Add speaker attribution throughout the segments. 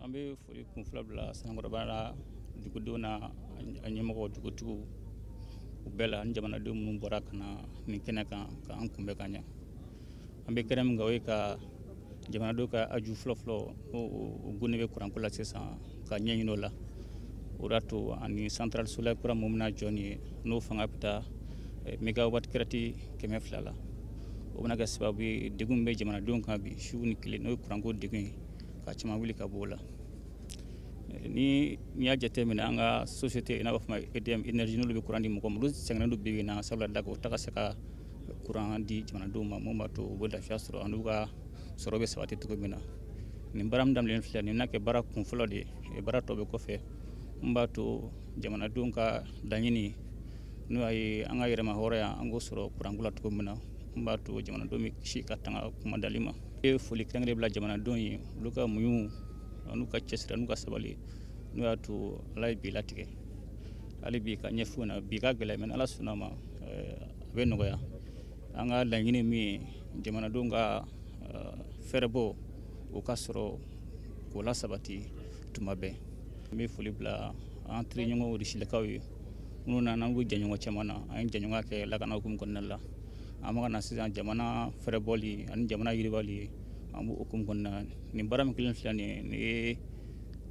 Speaker 1: an bɛ foli kun fila bila sanankɔrɔba la dugudenw n'a ɲɛmɔgɔw dugutigiw u bɛɛ la ani jamanadenw minnu bɔra ka na nin kɛnɛ kan k'an kunbɛn ka ɲɛ an bɛ kɛnɛ min kan o ye ka jamanadenw ka haju fɔlɔfɔlɔ n'u degunnen bɛ kuranko la sisan ka ɲɛ ɲini o la o y'a to ani centrale solaire kura mun bɛna jɔ nin ye n'o fanga bɛ taa eh, megawatt crête kɛmɛ fila la o bɛna kɛ sababu ye degun min bɛ jamanadenw kan bi su ni tile n'o ye kuranko degun ye ka caman wuli ka bɔ o la eh, ni n'i y'a jateminɛ an ka société i n'a fɔ edm énergie n'olu bɛ kuran di mɔgɔw ma olu sɛgɛnnen don bi bi in na sabula daga u tɛ ka se ka kuran di jamanadenw ma mun b'a to u bɛ lafiya sɔrɔ an'u ka sɔrɔ bɛ sabati cogo min na nin baara min daminɛlen filɛ nin na kɛ baara kun fɔlɔ de ye baara tɔ bɛ kɔfɛ mun b'a to jamanadenw ka laɲini n'o ye an ka yɛrɛmahɔrɔnya an k'o sɔrɔ kuranko la cogo min na mun b'a to jamanadenw bɛ kisi ka tanga kuma dali ma n bɛ foli kɛrɛnkɛrɛn bila jamanadenw ye olu ka muɲu an'u ka cɛsiri an'u ka sabali n'o y'a to ala ye bi latigɛ hali bi ka ɲɛf'u na bi ka gɛlɛn mais ala sɔnna ma eh, a bɛ nɔgɔya an ka laɲini min ye jamanadenw ka uh, fɛrɛbɔ u ka sɔrɔ k'o lasabati tuma bɛɛ n bɛ foli bila an teriɲɔgɔnw risilakaw ye minnu nana an k'u jɛɲɔgɔn caman na an ye jɛɲɔgɔnya kɛ lakana hukumu kɔnɔna la an bɛ ka na sisan jamana fɛrɛbɔli ani jamana yiribali an b'o hukumu kɔnɔna nin baara min kɛlen filɛ nin ye nin ye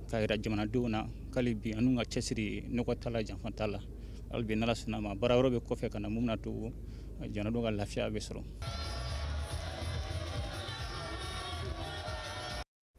Speaker 1: k'a jira jamanadenw na k'hali bi an n'u ka cɛsiri nɔgɔ t'a la janfa t'a la hali bi n'ala sɔnna ma baara wɛrɛ bɛ kɔfɛ ka na mun bɛn'a to jamanadenw ka lafiya bɛ sɔrɔ